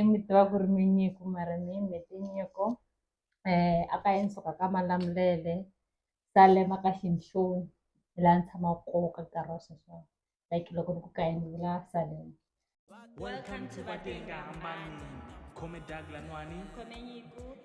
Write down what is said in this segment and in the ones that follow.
mi tiva ku ri minyiko mara mi yini mi tinyiko a ka yini suka ka malamulele salema ka xinhloni hi laha ni tshamaka koho ka nkarhi wa sweswo like loko ni ku ka yini vula salema Welcome to Batenga Hambani. Come Douglas Nwani. Come Nyiku.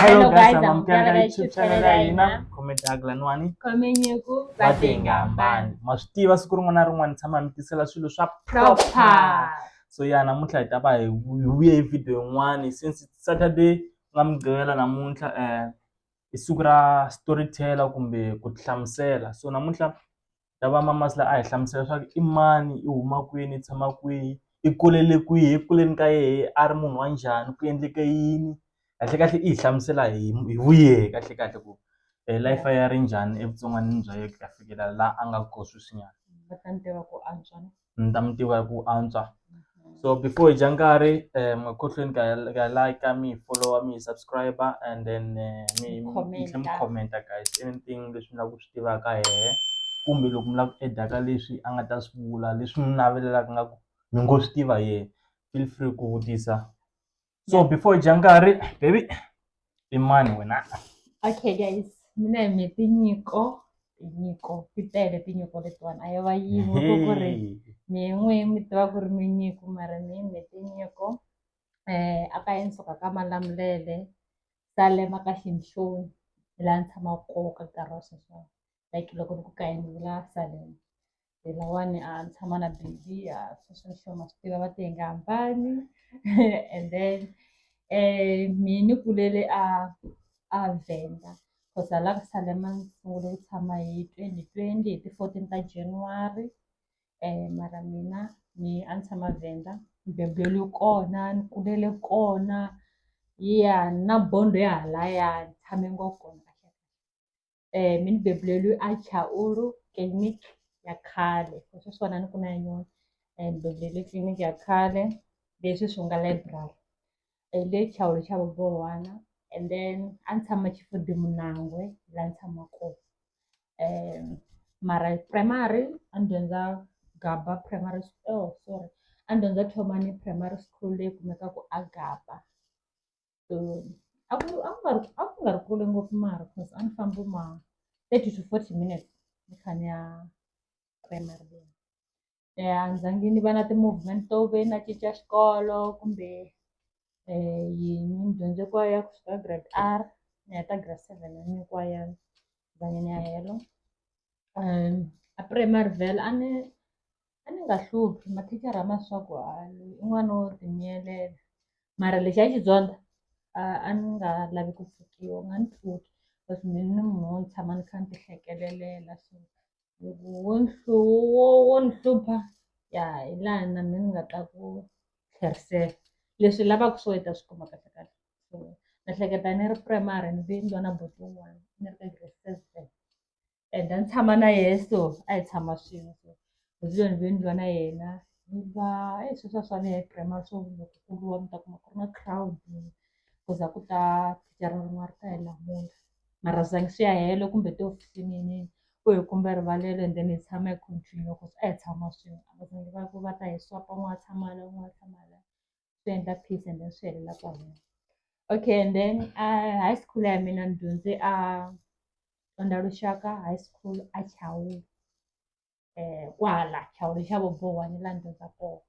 Hello guys, I'm Mganga Mganga YouTube YouTube channel channel ina ina. comment agla nwani Komenyeku vatengambani. ma swi tiva siku rin'wana na rin'wana ni tshama mi tisela swilo swa proper Proper. so ya namuntlha hi ta va hi vu- hi vuye hi video yin'wani since it's saturday ku nga mugqivela namuntlha um i siku ra storyteller kumbe ku tihlamusela so namuntlha ra va mama Masi la a hi hlamusela leswaku i mani i huma kwini i tshama kwihi i kulele kwihi eku kuleni ka yena a ri munhu wa njhani ku endleke yini kahlekahle i hi hlamusela hi hi vu yehe kahlekahle ku life ya yena yi ri njhani evutsongwanini bya yena ku ya fikela laha a nga kona sweswinyana . ni ta mi tiva ku antswa so before hi dya nkarhi um ekhohlweni ka ka like mi hi followa mi hi subscribe and then eh, mi mi tlhe mi Commenta. commenta guys anything leswi mi lava ku swi tivaka hehe kumbe loko mi lava ku edaka leswi a nga ta swi vula leswi mi navelelaka nga ku mi ngo swi tiva yehe feel free ku vutisa so before dya nkarhi baby i mani wena okay guys mina hi me tinyiko tinyiko ti tele tinyiko letiwani a yi va yin'we ko ku ri mi n'we mi tiva ku ri minyiko mara mi me tinyiko um a ka ensuka ka malamulele salema ka xinhloni hi laha ni tshamaka koho ka nkarhi wa sweswo like loko ni ku ka yini ni la salema hi lawani a ni tshama na baby a swi sweswo ma swi tiva va te hi nga hambani and then um mi ni kulele a a venda cause hala ka salema ni sungule ku tshama hi twenty twenty hi ti-fourteen ta january um mara mina ni a ni tshama venda ni beburiwe kona ni kulele kona ya na bond ya halaya ni tshame ngopfu kona. um mi ni bebuleliwi a Chauke clinic ya khale hi swi swa ni ku na yin'wana and bebuleliwi clinic ya khale leswi swi nga library hi le Chauke xa vabohwana and then a ni tshama Chifundi Munangwe laha ni tshama kona um mara primary a ni dyondza Gaba primary oh sorry a ni dyondza Thomani primary school leyi kumekaka a Gaba. so a ku a ku nga ri a ku nga ri kule ngopfu mara cause a ni fambi ma thirty to forty minutes ni kha ni ya primary leyi um a ni zangi ni va na ti-movement to ve na cinca xikolo kumbe um yini ni dyondze kwayo ya ku suka grade r ni heta grade seven a ni kwayo zange ni ya helo um a primary vhele a ni A ni nga hluphi mathicara ma swa ku a loyi i n'wana wo tinyiyetela mara lexi a xi dyondza a a ni nga lavi ku pfukiwa u nga ni pfuki cause me ni munhu wo ni tshama ni kha ni ti hlekelela so loko wo ni wo wo ni hlupha ya hi laha na me ni nga ta ku tlherisela leswi i lavaku swo i ta swi kuma kahle kahle so ni hleketa ni ri primary ni ve ni lwa na buti wun'wani ni ri ka grade seven. and a ni tshama na yehe so a hi tshama swin'we so hi vuya ni vuye ni lwa na yena ni va e sweswi a swi fani hi grammar swo loko ku lwa mi ta kuma ku ri na crowd ku za ku ta thicara rin'wana ri ta hi lamula mara swi zangi swi ya helo kumbe tihofisini yinini ku hi kumbe rivalelo and then hi tshama hi continue ku a hi tshama swin'we a va zangi va ku va ta hi swapa un'wana a tshama la un'wana a tshama la swi endla peace and then swi helela kwalano okay and then uh, high school ya mina ni dyondze a onda lushaka high school a chawula eh kwala chawula xa vobowa ni la ni dyondza kona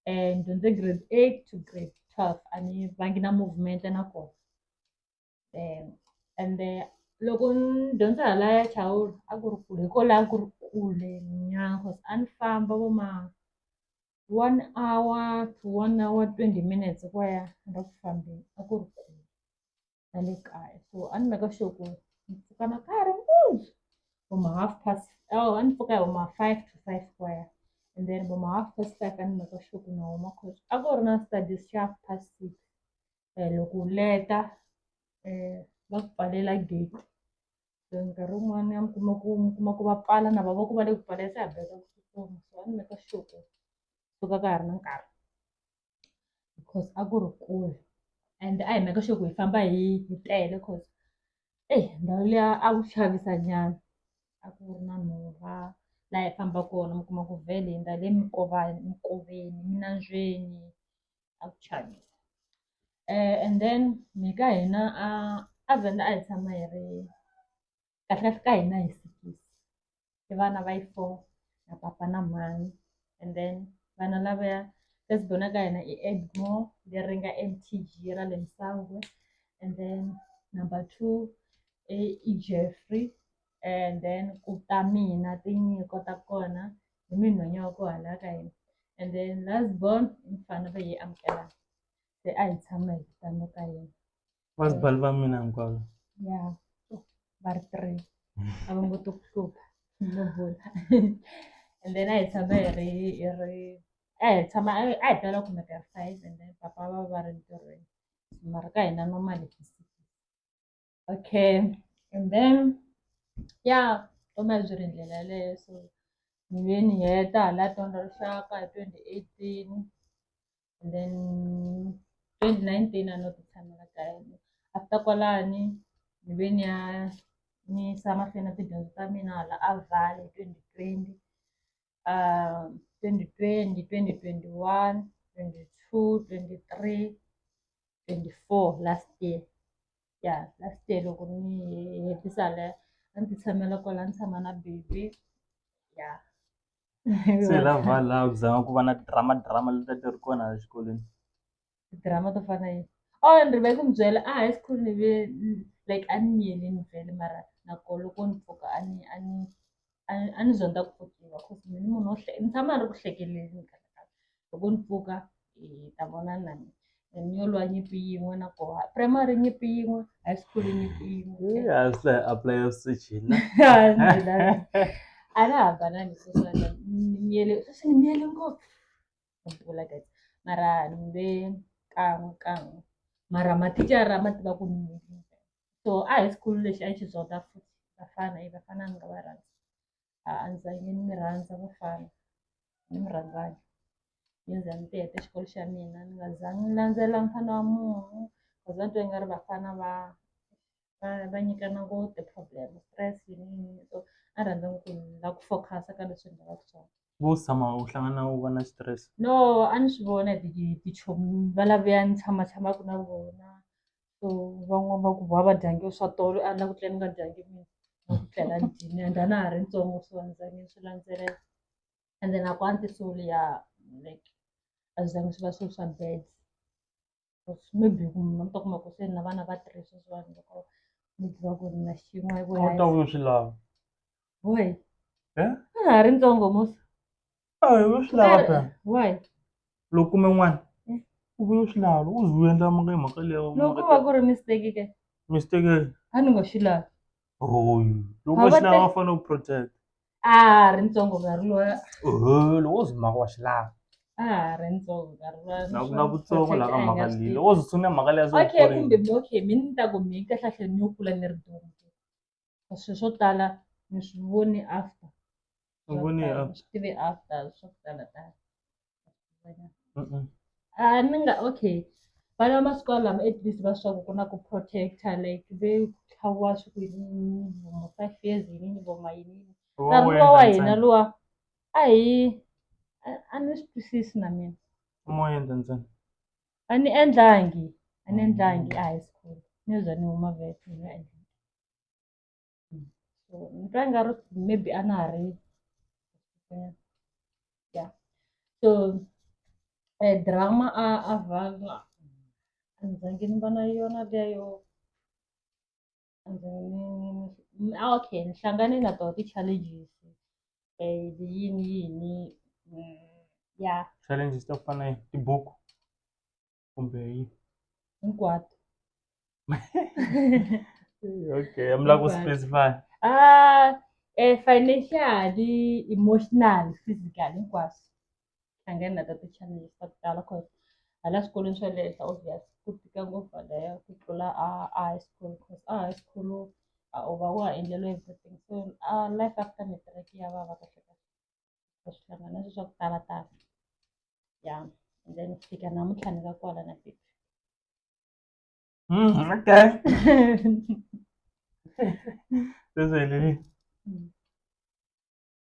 um ni dyondze grade eight to grade twelve a ni vangi na movement na kona ende loko ni dyondza hala ya Chauke a ku ri kule hi ko la ku ri kule nyana cause a ni famba vo ma one hour to one hour twenty minutes hi ku ya ende a ku fambeni a ku ri kule na le kaya so a ni make sure ku ni pfuka na ka ha ri mpundzu vo ma half past awa a ni pfuka hi vo ma five to five ku ya and then vo ma half past five a ni make sure ku na huma cause a ku ri na studies xa half past six eh, loko u leta eh, va ku pfalela gate so nkarhi wun'wana ya mi kuma ku mi kuma ku va pfala na vava ku va le ku pfalea se ha beka ku tsutsuma so a ni meka sure suka ka ha ri na nkarhi because a ku ri kule and a hi meka sure ku hi famba hi hi tele cause eyi eh, ndhawu liya a ku xavisa nyana a ku ri na nhova laha hi famba kona mi kuma ku vhele hi ndhale mikovani mikoveni minandzweni a ku chavisa and then mehe ka hina a a Venda a hi tshama hi ri kahle ka hina hi sikisi i vana va yi four na papa na mhani and then vana lavaya first born ka hina i Edmore leri nga MTG ra le Msangwe and then number two i Jeffrey and then ku ta mina tinyiko ta kona hi minhwanya wa ku hala ka hina and then last born i mufana va yi amukela se a hi tshama hi tano ka yena vasibali va mina hinkwavo ya va ri three a va ngo to ku hlupha no bula and then a hi tshama hi ri hi ri a hi tshama a hi tala kumeka hi ri five and then papa va va ri ntirhweni mara ka hina normally okay and then ya vutomi a byi ri ndlela yaleyo so ni ve ni heta hala dyondza rixaka hi twenty eighteen and then twenty nineteen a no ti tshamela kaya after kwalani ni ve ni ya ni yisa mahlweni na tidyondzo ta mina hala a Vaal hi twenty twenty. uh, 2020 2021 22 23 24 last year ya yeah, last year loko ni hetisa le a ndzi tshamela kwala ni tshama na baby ya se la vala ku zama ku va na drama drama leti ti ri kona exikolweni drama to fana yi or ni rive ku mi byela a high school ni ve like a ni miyeli ni vele mara nako loko ni pfuka a ni a ni a ni- a ni zonda ku pfukiwa cause mini munhu wo hle- ni tshama ni ri ku hlekeleni nkarhi na nkarhi. loko ni pfuka hi ta vona na mina And ni yo lwa nyimpi yin'we na koha primary nyimpi yin'we high school nyimpi yin'we a swi a apply swicina a na hambanani sweswana ni miyele sweswi ni miyele ngopfu Ndzi vula guys mara ni mu ve kan'we kan'we mara mathicara ma tiva ku ni so a hi school lexi a yi xi zota futhi vafana i vafana ni nga va rhandza a a ni zange ni mi rhandza vafana ni mi rhandzanga ni za ni ti heta xikolo xa mina ni nga zangi ni landzela mfana wa munhu cause a ni twa i nga ri vafana va va va nyikana vo ti-problem stress yini yini so a rhandza ni ku ni la ku focus-a ka leswi ni lavaka swona vo tshama u hlangana u va na stress no a ni swi vona hi ti- tichomi va lavuya ni tshama tshamaka na vona so van'wani va ku va va dyange swa tolo a ni la ku tlela ni nga dyangi mina na ku tlela ni dyini and a na ha ri ntsongo so a ni zange ni swi landzelela and then a ku antisoli ya like a swi zange swi va swilo swa bad maybe ku mi ta kuma ku se na vana va three sweswiwani loko mi tiva ku ri na xin'we a wu ta vuyo swi lava why Eh? a ha ri ntsongo musa a wu swi lava phela why loko kume n'wana Mm. u vuye u swi lava loko u ze u endla mhaka hi mhaka leyo loko va ku ri mistake ke mistake a ni ngo xi lavi Oh, loko Mavate- xi lava fanele ku protect a ha ri ntsongo nkarhi lowa oho loko wo zwi maka wa xi lava a ha ri ntsongo nkarhi lowa na ku na vutsongo la ka mhaka leyi loko wo zwi tshune mhaka leyi a zwi okay kumbe mi- okay mi ni ta ku mi kahlahle ni yo kula ni ri duma swilo swo tala ni swi vone after Swi vone after. swi tive after swo tala tala a ni nga okay vana va masiku lama at least va swa ku ku na ku protect-a like ve tlhaviwa swi ku yini vo ma five years yini vo ma yini nkarhi luwa wa hina luwa a hi a- a ni swi twisisi na mina mo endla ntsena a ni endlangi a ni endlangi a high school ni za ni huma vhele ni nga endlangi. so ni twa nga ri maybe a na ha ri ya so eh, drama a a valwa a ni zange ni va na yona leyo a ni zange ni- ni- ni- ah, okay ni hlangane na toho ti-challenges eh, yini yini mm, ya challenges to fana na tibuku kumbe yi hinkwato okay mi lava ku Hinkwato. specify ah eh, financially emotional physical hinkwaswo hlangana na ta ti-challenges ta ku tala cause hala swikolweni swa le henhla obvious ku tika ngopfu halaya ku tlula a a high school cause a high school a u va wa ha endleriwe everything so a life after matric ya vava kahle kahle hlangana swi swa ku tala tala ya and then fika namuntlha ni ka kwala na baby mm, okay this way lily mm.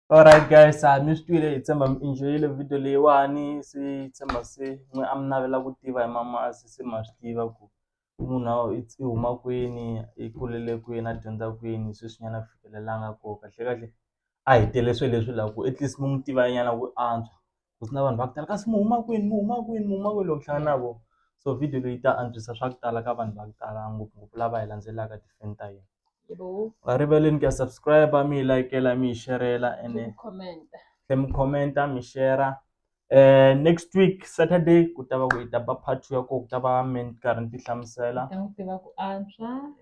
alright guys a mi swi twile hi tshemba mi enjoyile video leyiwani se tshemba se n'we a mi navela ku tiva hi mama a se se ma swi tiva ku ku munhu a i i huma kwini i kulele kwini a dyondza kwini sweswinyana a fikelelanga koho kahlekahle a hi tele swilo leswi la ku at least mi n'wi tiva nyana ku antswa ku na vanhu va ku tala kasi mi huma kwini mi huma kwini mi huma kwini loko u hlangana na vona so video leyi ta antswisa swa ku tala ka vanhu va ku tala ngopfungopfu lava hi landzelaka ti-fan ta hina a rivaleni ku ya subscribe mi hi layikela mi hi xerhela ene tlhe mi comment-a mi shera next week Saturday ku ta va ku hi ta ba part two ya koho ku ta va me ni karhi ni ti hlamusela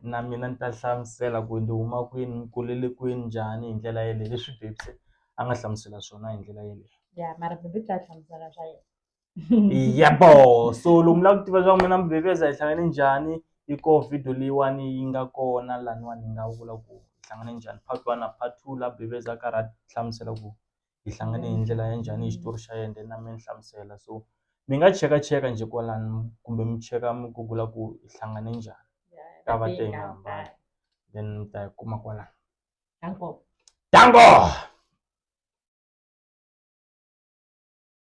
na mina ni ta hlamusela ku ni huma kwini ni kulele kwini njhani hi ndlela yeleyo leswi Babes a nga hlamusela swona hi ndlela yeleyo ya boho so lomu la ku tiva swa ku mina Babes hi hlangane njhani yi koho video leyiwani yi nga kona laniwani ni nga vula ku hi hlangane njhani part one na part two la Babes a karhi a hlamusela ku hi hlangane hi ndlela ya njhani hi xitori xa yena then a mi ni hlamusela so mi nga chekacheka njhe kwalano kumbe mi cheka mi gugula ku hi hlangane njhani ta va te hi nga hambani then mi ta yi kuma kwalano danko